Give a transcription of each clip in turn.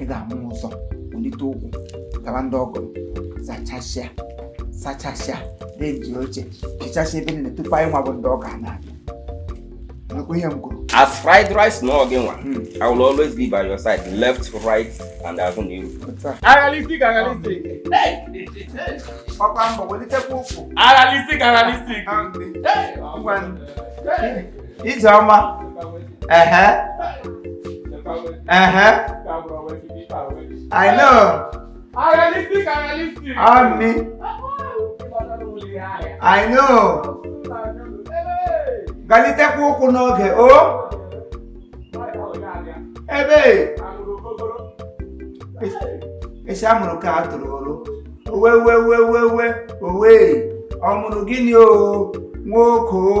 ị ga-ama ụzọ welite ụkwụ gaba ndị ọgọ zachasịa sachasịa dezie oche hichasịa ebe niile tupu anyị nwa bụ ndị ọga na-abịa nakwa ihe m kwuru as fried rice na oge nwa hmm. i will always be by your side left right and azụ na iru agalistic agalistic ọkwa mbọ welitekwa ụkwụ agalistic agalistic ngwa Ijeọma ehe ehe I know Realistic, realistic. Ami I know galitekwa ụkwụ n'oge o ebe e si amụrụ ka a tụrụ ọrụ owe we we we we owe ọ mụrụ gịnị o nwoke o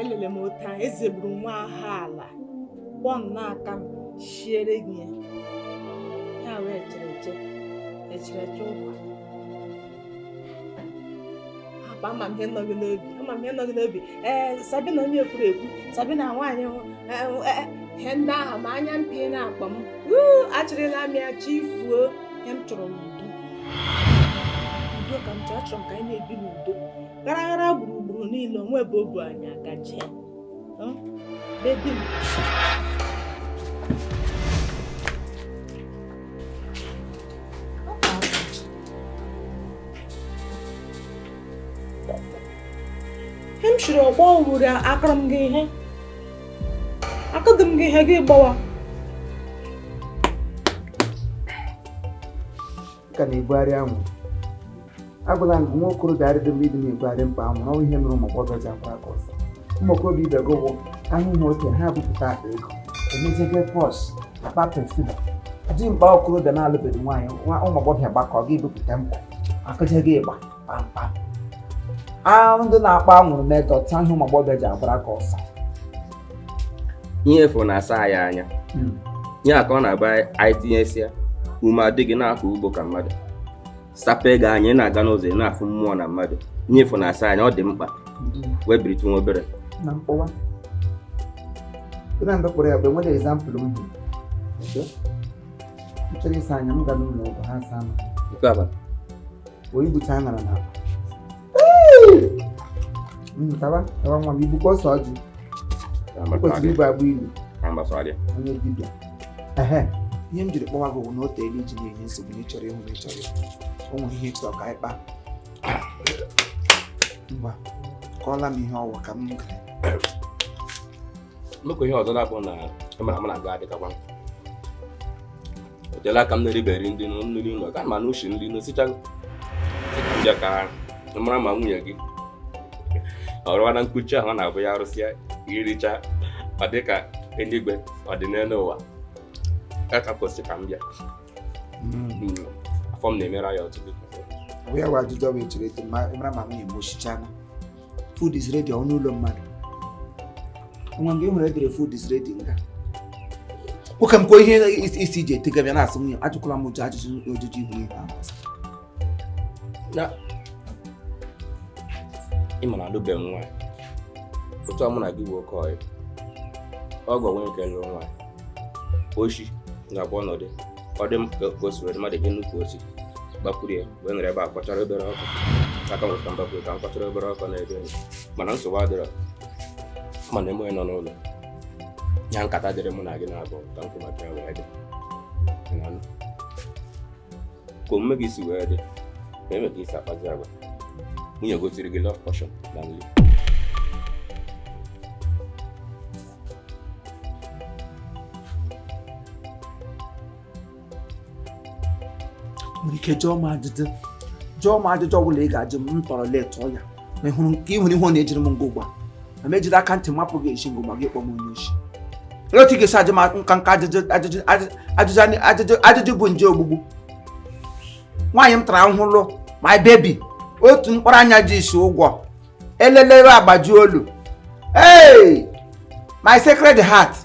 elele m otu a eze gburu nwa ahụ ala kpọọ nnọọ aka m shiere gị ya ya wee chere eche echere eche ụkwa akpa ama m ihe nọ gị n'obi ama m ihe nọ gị n'obi ee sabina onye kwuru ekwu sabina nwaanyị ihe ndị ahụ ma anya mpi na-akpa m achịrịla m ya chịfuo ihe m chọrọ n'udo udo ka m chọrọ achọrọ m ka anyị na-ebi n'udo ghara ghara gburugburu niile o nwe ebe o bu anyị agaje Baby. ihe m shiri ọgba owuru akụrụ m gị ihe akụdị m gị ihe gị gbawa ka na-ebugharị anwụ agwala m gị nwa okorobịa arịdị mma ịdị na-ebugharị mkpa anwụrụ ọnwa ihe mere ụmụ agbọghọ ji agbara gị ọsọ ụmụ okorobịa ibe gị bụ ahụhụ oke ha bupụta akpa ego emejebe purse akpa perfume dị mkpa okorobịa na-alụbeghị nwaanyị ụmụ agbọghọ gbakọ gị bupụta mkpa akụjeghị ịgba kpamkpam ahụ ndị na-akpọ anwụrụ metọ taa ihe ụmụ agbọghọbịa ji agbara gị ọsọ ihe fụ na-asa anyị anya hmm. ihe a ka ọ na-agba anyị tinyesịa ume adịghị na-akọ ugbo ka mmadụ sape gị anya ị na-aga n'ụzọ ị na-afụ mmụọ na mmadụ ihe fụ na-asa anya ọ dị mkpa hmm. wee biritụ nwa obere na mkpọwa na mgbe kpọrọ ya bụ enwere example m bụ m chọrọ ịsa anya m ga n'ụlọ ọgwụ ha saa m wee ibucha aṅara na akpa hmm, taba taba nwa m ibukwa ose ọjị kwesịrị ibu agba ilu onye dibịa ehe ihe m jiri kpọwa gị bụ na o teela i ji na-enye nsogbu na ịchọrọ ịhụ na ịchọrọ o nwere ihe ịchọrọ ka anyị kpaa ngwa kọọla m ihe ọ wụ ka m gara nnukwu ihe ọzọ na-abụ na ịmara e m na-aga adịkakwa o teela aka m na-eriberi ndị nri ụlọ ka ma na ushi nri n'osichago bịa ka mara ma nwunye gị ọrụwa na nkuchi ahụ na-abụ ya arụsịa iricha ọ dị ka eluigwe ọ dị n'elu ụwa ya ka kwesịrị ka m bịa hmm. afọ m na-emere ya ọtụtụ ya bụ ajụjụ ọ bụ echere eto mara ma nwunye m osichana food is ready ọ n'ụlọ mmadụ nwa mgbe ị hụrụ e dere food is ready nga nwoke m kwa ihe isi iji etega bịa na-asị nwunye ajụkwala m ụdị ajụjụ ojiji ihu ihe ahụ ị ma na alụbeghị m nwaanyị otu a mụ na gị bụ oke ọyị ọ gwa nwunye nke lụrụ nwaanyị oshi na-agba ọnọdụ ọ dị ka o siri mmadụ dị nnukwu osi gbakwuru ya wee nọrọ ebe a kpachara obere ọkụ aka nwụrụ ka m gbakwuru ka m kpachara obere ọkụ na-ebe mana nsogbu adịrọ mana eme onye nọ n'ụlọ ya nkata dịrị mụ na gị na-abụ ka nkwụ maka ya wee dị ka omume gị si wee dị ka eme ka i si akpazi agwa nwunye gị o tiiri gị love potion na nri nwere ike jụọ m ajụjụ jụọ m ajụjụ ọ bụla ị ga-ajụ m m tọrọ letụọ ya ma ị hụrụ nke ị nwere ihe ọ na-ejiri m ugbu a ma m ejiri aka ntị mapụ gị eze n'agba gị kpọ m onye oshi olee otu ị ga-esi ajụ m nka nka ajụjụ ajụjụ ajụjụ ajụjụ ajụjụ bụ nje ogbugbu nwaanyị m tara ahụhụ lụ my baby otu mkpụrụ anya ji isi ụgwọ elelewe agbajie olu hey my sacred heart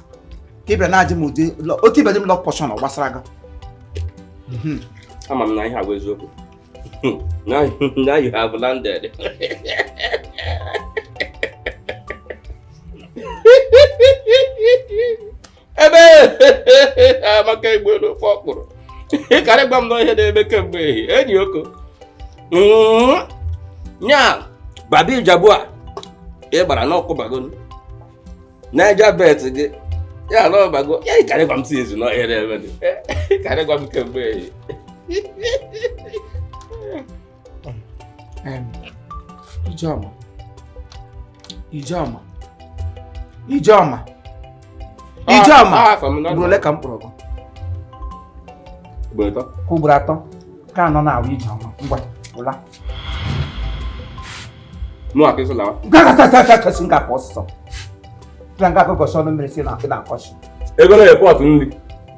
ka ịbịa na-ajụ m ụdị lọ- o tibere m love potion ọ gbasara gị Mhm. ama m na ihe a wụ eziokwu now, you- now you have landed ebe amaka igbo elu ofe okpuru karị gwa m na ihe na-eme kemgbe ehi enyi ọ kwa nya baba ijebu a ị gbara na ọ kụbago naija bet gị ya na ọ bago ya ị karị gwa m sịzị na ọ ihe na-eme karị gwa m kemgbe ehi Ijeọma Ijeọma Ijeọma Ijeọma ugboro ole ka m kpọrọ gị ugboro atọ ka anọ na-awụ Ijeọma ngwa ụla gasị m ga-akọ ọsịsọ ga nga akụkọsị ọnụ mmiri si na akị na-akọsi ego na-epọtụ nri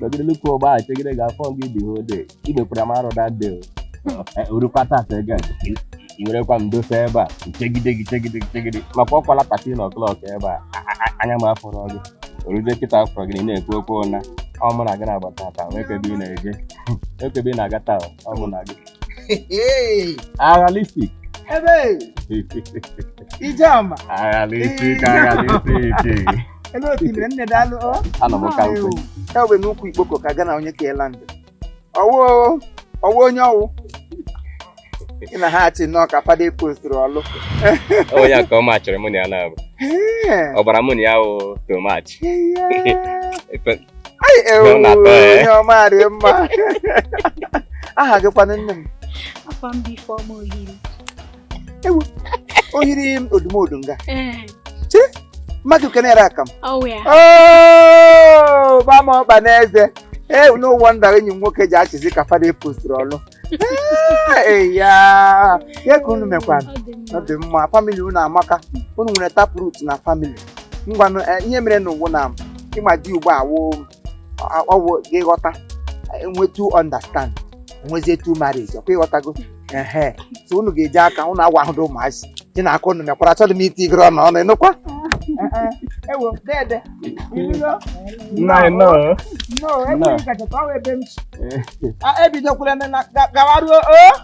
nọgide n'ukwu ụgba a chegide ga afọ gị dị hode igbekwara m arụ dade orukwa taa gị werekwa m dosa ebe a chegide gị chegide gị chegide maka ọ kụọla past ten o'clock ebe a anya m afụrọ gị oruzie kịta a fụrụ gị na-ekwu okwu ụna ọ mụ na gị na-agbata taa ekebe ị na-eje ekebe ị na-aga taa ọ mụ na gị agha listik ebe Ijeọma agha listik agha listik ebe o tinyere nne daalụ ọ anọ m ka nkụ ewe n'ukwu ikpoko ka gị na onye ka ela ndụ ọwụ ọwụ onye ọwụ ị na-achị nnọọ ka fada e postiri ọlụ onye a ka ọ machịrị mụ na ya na-abụ Ee, ọbara mụ na ya wụ to match ee, Ai, ewu, Ọ na-atọ ya. onye ọma dị mma aha gị kwanụ nne m afa m bụ Ifeọma Ohiri Ohiri m odumodu nga ee mmadụ kenere aka m ọwụ ya Oh, gba m ọkpa n'eze ee no wonder enyi m nwoke ji achịzi ka fada e postiri ọlụ ee ya ya ka unu mekwana ọ dị ọ mma dị mma family unu amaka unu nwere taproot na family ngwanụ eh, ihe mere na ụwa na ịma di ugbu a wụ ọwụ gị ghọta enwetu understand enwezietu marriage ọkwa ịghọtago ehe so unu ga-eji aka unu agwa ahụ dị ụmụazị dị na aka unu mekwara achọghị m itinyere unu ọnụ ịnụkwa ewo dede ịnụgo Nna anyị nọ. no enweghị nkachata ọwa ebe m si ebidokwula na gawaruo o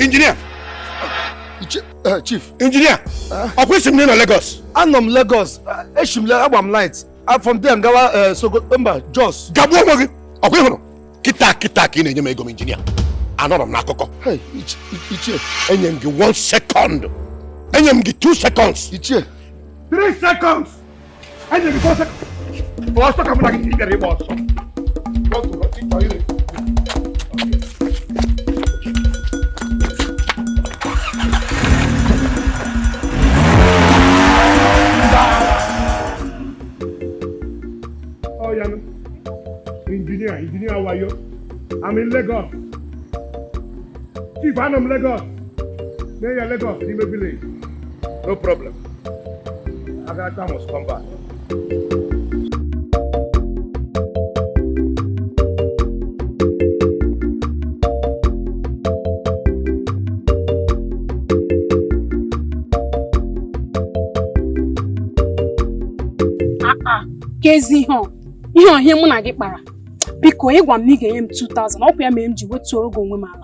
injinia eh, chief injinia eh. ọ kwa asị m nọ Lagos anọ m Lagos eh, echi m agba m flight ah, from there gawa Sokoto mba Jos gagbuo onwe gị ọkwa ịhụrụ kịta kịta ka ị na-enye m ego m injinia anọrọ m n'akụkọ enye m gị one second enye m gị two seconds ichie three seconds Anyị na-ebi ọsọ. Ọsọ ka mụ na gị gara ịgba ọsọ. Injinia, how are you? I'm in Lagos. Chief, I'm in Lagos. Near Lagos, in the village. No problem. Agatha must come back. kezi ihe ọ ihe ọ ihe mụ na gị kpara biko ị gwa m na ị ga-enye m 2000 ọkwa ya mere m ji wetuoro gị onwe m ala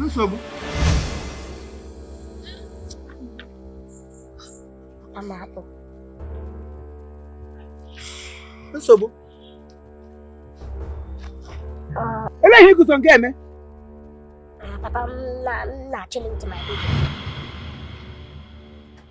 nsogbu nsogbu olee ihe i guzo nke eme papa m na-achịlị with my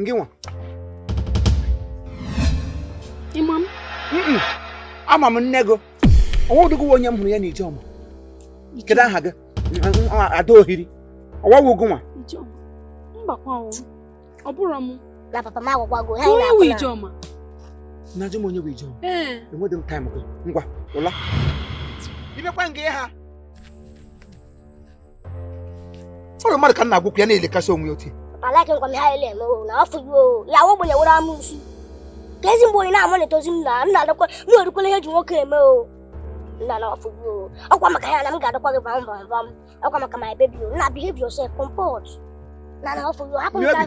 Ngị nwa. Ị ma m? Ama m nne gị. Ọnwa ụdịgị onye m hụrụ ya na Ijeọma. Kedu aha gị? Ada Ohiri. Ọwa wụ gị nwa. Ijeọma. Mbakwa ọnwụ. Ọ bụrụ m. Na papa m agwagwago. Onye wụ Ijeọma? Na-ajụ m onye wụ Ijeọma. Ee. Enweghị m taịm gị. Ngwa, ụla. I mekwa ngị ha. ọ wụ mmadụ ka m na-agwa okwu ya na-elekasị onwe ya otu a like nkwa m high level na for you o ya wụ ogbenye were amusu kezi mgbe onye na-ama na-etozi m na nna adakwa m erukwala ihe e ji nwoke eme o nna na for you o ọkwa maka ya na m ga-adakwa gị vam vam vam ọkwa maka my baby o na behave yourself comport na na for you o hapụ m ka-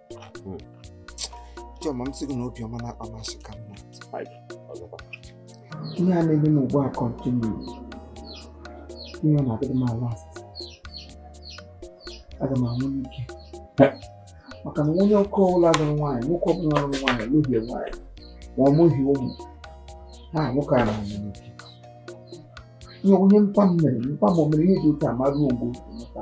Chioma m sị gị na obiọma na-akpa masị ka mma ihe a na-eme m ugbu a continue ihe ọ na-adịrị m last aga m anwụ n'ike maka na onye oke ọbụla lụrụ nwaanyị nwoke ọbụla lụrụ nwaanyị n'ohie nwaanyị ma ọ mụghị ụmụ ha nwoke a na-anwụ n'ike ihe nwunye mpa m mere mpa m o mere ihe dị otu a maruo mgbe otu mụta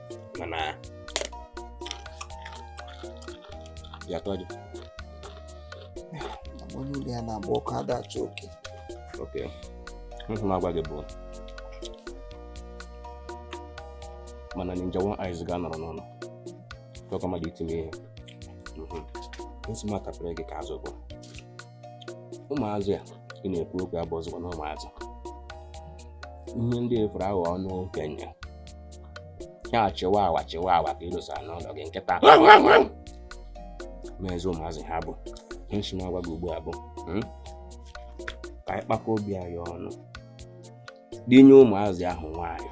mana ya tọ gị onye ụlọ ya na-agba ọkụ ada achụ oke okwu m sị m agwa gị bụ mana ninja one eyes ga-anọrọ n'ụlọ tọkọ mmadụ itinye ihe nsị m atapere gị ka azụ bụ ụmụazụ a ị na-ekwu okwu abụzikwana ụmụazụ ihe ndị fuere aghọ ọnụ okenye ha achịwa awa chịwa awa ka i dosara n'ụlọ gị kịta mezi ụmụazụ ha bụ ihe m sị m agwa gị ugbu a bụ hmm? ka anyị kpakọ obi anyị ọnụ dinye ụmụazị ahụ nwaanyị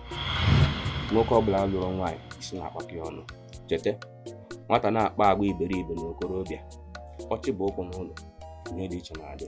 nwoke ọbụla lụrụ nwaanyị isi na-akpakọ ya ọnụ cheta nwata na-akpa agwa iberibe n'okorobịa ọ chịba ụkwụ n'ụlọ ihe dị iche na-adị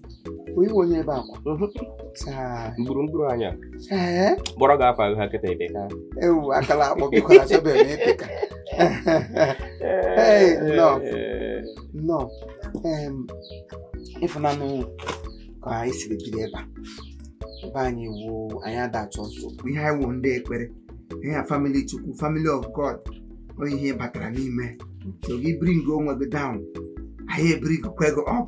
onye onye ebe akwa mgburugburu anya kpọrọ gị afọ ha kịta ebe ka ewu akala akpọ biko achọbe m ịpị ka nnọọ nnọọ ị fụnanụ ka anyị siri biri ebe a ebe anyị wuo anyị ada achọ nsogbu ihe anyị wuo ndị ekpere ihe a family Chukwu family of God onye ihe batara n'ime so gị bring onwe gị down anyị ebring kwa gị up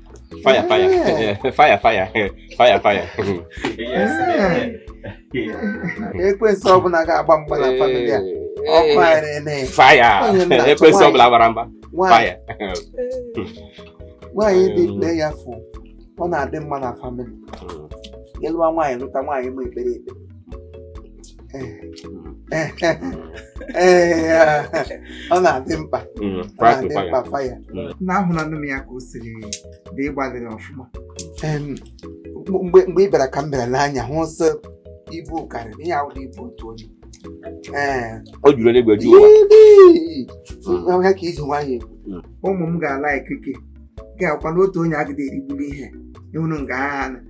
Fire, fire. Yeah. fire, fire. fire, fire. yes. Ekwensu ọbụla ga-agba mgba na famili a. Ọkụ anyị na-ele. Fire. Ekwensu ọbụla gbara mgba. Fire. Nwaanyị dị prayerful. Ọ na-adị mma na famili. Ị lụwa nwaanyị lụta nwaanyị ma ekpere ekpe. ọ na-adị mkpa mm, fire mm. na ahụlanụ m ya ka o siri dị ị gbalịrị ọfụma mgbe ị bịara ka m bịara n'anya hụ sị ibu karịrị ihe ahụ ibu otu onye o juru eluigwe ju ụwa ya ka i ji nwayọ mm. ụmụ m ga-ala ikike ga-akwa n'otu onye agide erigburu ihe ị hụrụ nga ha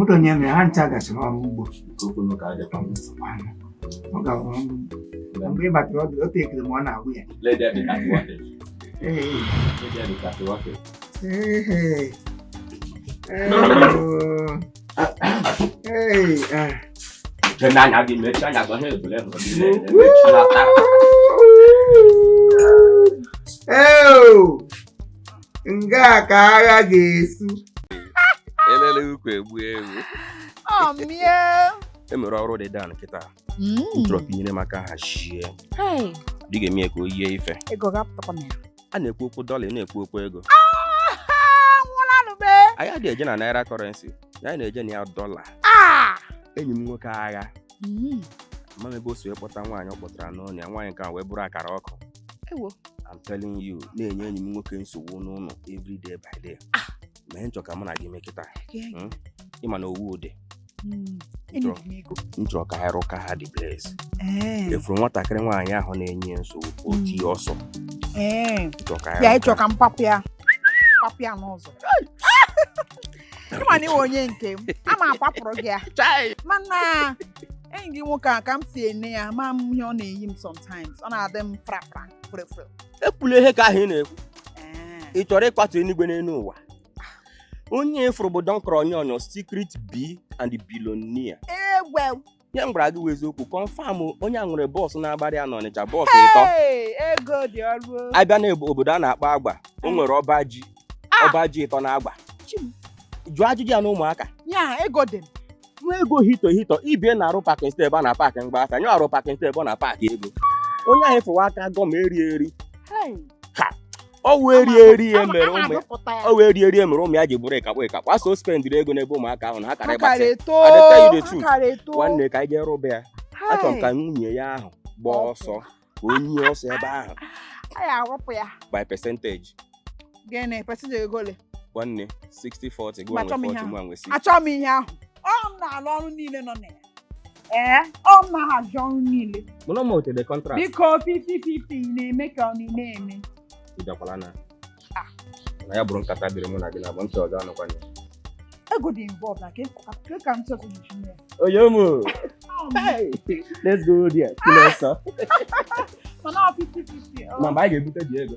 otu onye mere ha ncha gachara ọrụ ugbo ọ ga-arụ ọrụ ugbo mgbe ị batara ọ dị ekele ma ọ na-agwụ ya Hey, hey. Jenanya di mecha nya gwa he bule no di le mecha la ta. Eo! Nga ka agha ga-esu. Elele ukwu egbu ewu. Ọ mie. E nwere ọrụ dị down kịta. Mm. m chọrọ ka i nyere m aka hazie Hey, dị ga-eme ya ka o yie ife ego ga-apụtakwa na ya. a na-ekwu okwu dọla ị na-ekwu okwu ego Ah, nwụlanụ be. anyị adịghị eje na naira currency anyị na-eje na ya dọla Ah. enyi m nwoke agha Mm. ma m ebe o si wee kpọta nwaanyị ọ kpọtara n'ụlọ ya nwaanyị nke a wee bụrụ akara ọkụ Ewo. I'm telling you na-enye enyi m nwoke nsogbu n'ụlọ every day by day ma ihe m chọ ka mụ na gị mee kịta Gee- ị ma na ọ wụ ụdị Mm. Enyi m ego. m chọrọ ka ha rụka ha dị Blaze Ee. ị fụrụ nwatakịrị nwaanyị ahụ na-enye ya nsogbu ka o Mm. tie ọsọ Ee. m chọrọ ka ha Ya rụka ị chọ ka m papụ ya papụ ya n'ụzọ ị ma na ị wụ onye nke m a ma akwapụrụ gị ya mana enyi gị nwoke a ka m si ene ya ma m ihe ọ na-eyi m sometimes ọ na-adị m frafra frefre ekwula ihe ka ahụ ị na-ekwu ị chọrọ ịkwatu enigwe n'elu ụwa onye ị fụrụ bụ don kronyon secret b and the billionaire egwe ihe m gwara gị wụ eziokwu confirm onye a nwere bọọsụ na-agbara ya n'Ọnịcha bọọsụ ịtọ Hey, ego dị ọrụ o. a bịa na obodo a na-akpọ Agba o nwere ọba ji Ah! ọba ji ịtọ na Agba Chi m. jụọ ajụjụ ya na ụmụaka ya ego dị m. nwa ego hito hito ibie na-arụ pakin step a na paakị mgba aka nyụ arụ pakin step ọ na paakị ego onye ahụ ị fụ wụ aka gọm eri eri Hey, ọ wee rie eri ya mere ụmụ ya ọ wee rie eri ya mere ụmụ ya ji bụrụ akakpọ akakpọ a sị o spendịrị ego n'ebe ụmụaka ahụ na ha kara ịgbatị adịta ide tu nwanne ka anyị jee rụba ya achọrọ m ka nwunye ya ahụ gbaa ọsọ ka onye ọsọ ebe ahụ by percentage gịnị percentage ego ole nwanne 60 40 gịwa nwe 40 mụwa nwe 60 achọghị m ihe ahụ ọ m na-alụ ọrụ niile nọ na ya ee ọ m na-ahazi ọrụ niile mụwa wetere contract biko fifty fifty ị na-eme ka ọ na ị na-eme ị bịakwala na na ya bụrụ nkata dịrị mụ na gị naabọ ntị ọzọ anụkwana ya ego dị involved na ka ka ka m chọrọ iji mee onye ụmụ let's go there kụlụ ọsọ mana ọ fifty fifty ọ ma mgbe anyị ga-ebute ji ego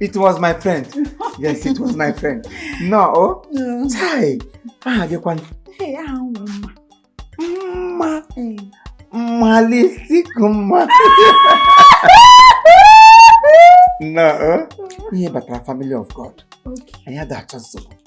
it was my friend yes it was my friend no o oh. chai aha gị kwanụ mma mma lisik mma no o oh. ihe batara family of God anyị ada achọ nsogbu